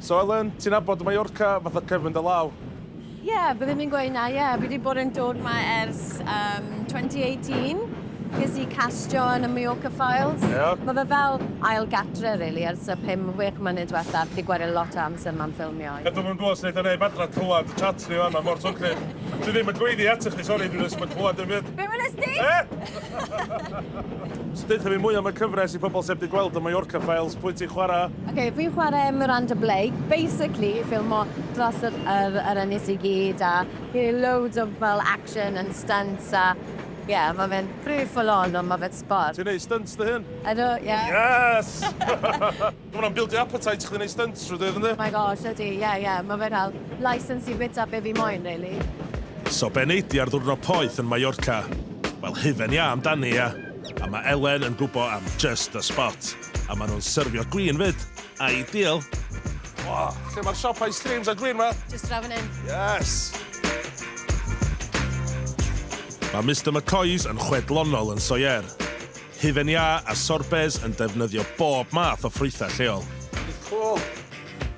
So Elen, ti'n abod Mallorca fatha cefn dy law? Ie, byddwn i'n gweud na, ie. Fi wedi bod yn dod yma ers um, 2018. Ges i castio yn y Mallorca Files. Yeah. Mae fe fel ail gatre, really, ers y 5-6 mlynedd diwetha. Fi wedi gwario lot o amser yma'n ffilmio. Ydw i'n gwybod sut yn ei badra clywed y chat ni fanna mor swnllyd. Dwi ddim yn gweiddi atych chi, sori, dwi'n ysmod clywed yn fyd. Be welys di? E? so, deutha fi mwy am y cyfres i pobl sef di gweld y Mallorca Files, pwy ti'n chwarae, Ok, fi'n chwarae Miranda Blake, basically ffilmo dros yr, yr, yr ynys i gyd a he loads of fel action and stunts a ie, yeah, mae fe'n pretty full on ond mae fe'n sport. Ti'n neud stunts dy hun? Ydw, ie. Yeah. Yes! Mae hwnna'n bildio appetite chdi neud stunts trwy dydd yndi? My gosh, ydy, ie, yeah, ie, yeah. mae fe'n cael license i bita be fi moyn, really. So be nei di ar ddwrnod poeth yn Mallorca? Wel hufen iâ amdani ia? A mae Elen yn gwbo am just the spot. A maen nhw'n syrfio gwin fyd. Ideal. O, lle mae'r siop ice creams a gwin ma? Just draw fan hyn. Yes! Mae Mister McCoy's yn chwedlonol yn Soyer. Hufen iâ a sorbets yn defnyddio bob math o ffrwythau lleol. Cool.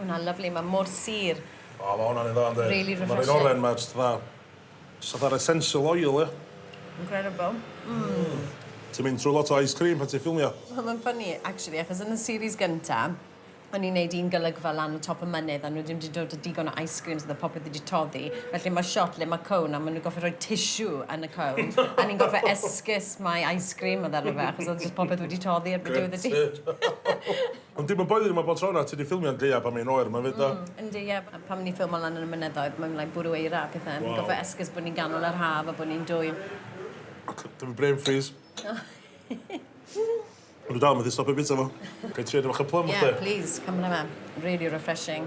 O na lyfli ma mor sur. O ma hwnna'n un dda yndi. Really refreshing. Ma'r un oren ma jyst fatha jyst fatha'r essential oil ia? Incredible. Mmm. Ti'n mynd trw lot o ice cream pan ti'n ffilmio? Wel ma'n funny actually achos yn y series gynta o'n i'n neud un golygfa lan y top y mynydd a nhw ddim 'di dod a digon o ice creams o'dd y popeth wedi toddi felly ma shot le ma cone a ma nhw gorffod rhoi tissue yn y cone a ni'n gorffo esgus mai ice cream o'dd arno fe achos o'dd jyst popeth wedi toddi erbyn diwedd y dydd. Ond dim yn boeddyn yma bob tro na ti di ffilmio yn gaeaf pan mae'n oer yma 'fyd do? Mm yndi ie pan ni'n ffilmo lan yn y mynyddoedd mae'n like bwrw eira a pethe ni'n gorffo esgus bo ni'n ganol yr haf a bo ni'n dwym. Ac yy dyma brain freeze. O'n i dal methu stopio bita fo. Gai trio dipyn bach o plym chdi? Ie plîs cymra fe. Rili refreshing.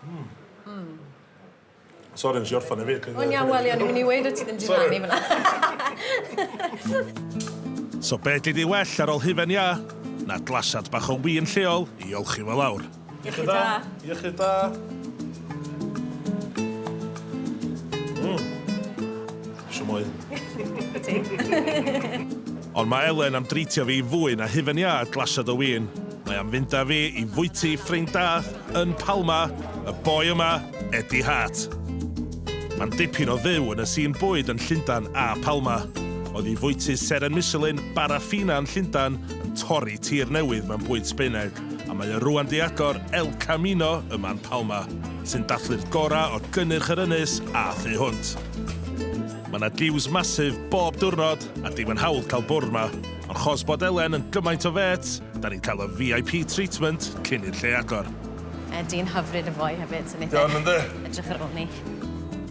Mm. Mm. Sori, nes i orffan efyd. O'n iawn, wel, o'n i'n mynd i weid o ti ddim di rannu fyna. So be di di well ar ôl hufen iâ na glasiad bach o win lleol i olchi fo lawr? Iechyd da. Iechyd da. Mm. Shwmai. Wyt ti? Ond mae Elen am drîtio fi i fwyn a hufen iâ glasiad o win. Mae am fynd â fi i fwyty ffrind da yn Palma, y boi yma, Eddie Hart. Mae'n dipyn o fyw yn y sîn bwyd yn Llundain a Palma. Oedd i fwyty seren Michelin, Bar a Fina yn Llundain, yn torri tir newydd mewn bwyd Sbaeneg, a mae o rŵan 'di agor El Camino yma yn Palma. sy'n dathlu'r gorau o gynnyrch yr ynys a thu hwnt. Mae 'na diws massive bob diwrnod a dim yn hawdd cael bwrdd 'ma, ond chos bod Elen yn gymaint o fêts, 'da ni'n cael y VIP treatment cyn i'r lle agor. Mae dyn hyfryd yn fwy hefyd, so neith e... Iawn yndi? ...edrych ar ôl ni.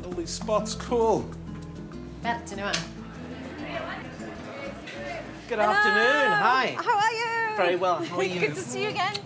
Lovely spot, cŵl! Wel, dyna fo. Good afternoon, hi! Hello! How are you? Very well, how are you? Good to see you again!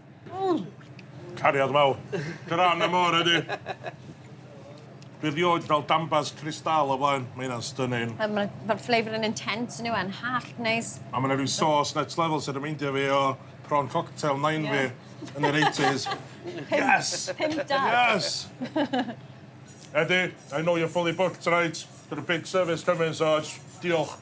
Cariad mawr. Gran am ore di. Dwi rioed fel dambas crystal o blaen. Mae hynna'n stunning. Wel ma' ma'r flavour yn intense yndyw e'n hallt neis. A ma' 'na ryw sauce next level sy'n remeindio fi o prawn cocktail nain fi yn yr eighties. Yes! Pump pump dau. Yes! Edi, I know you're fully booked tonight. Got a big service coming so js diolch.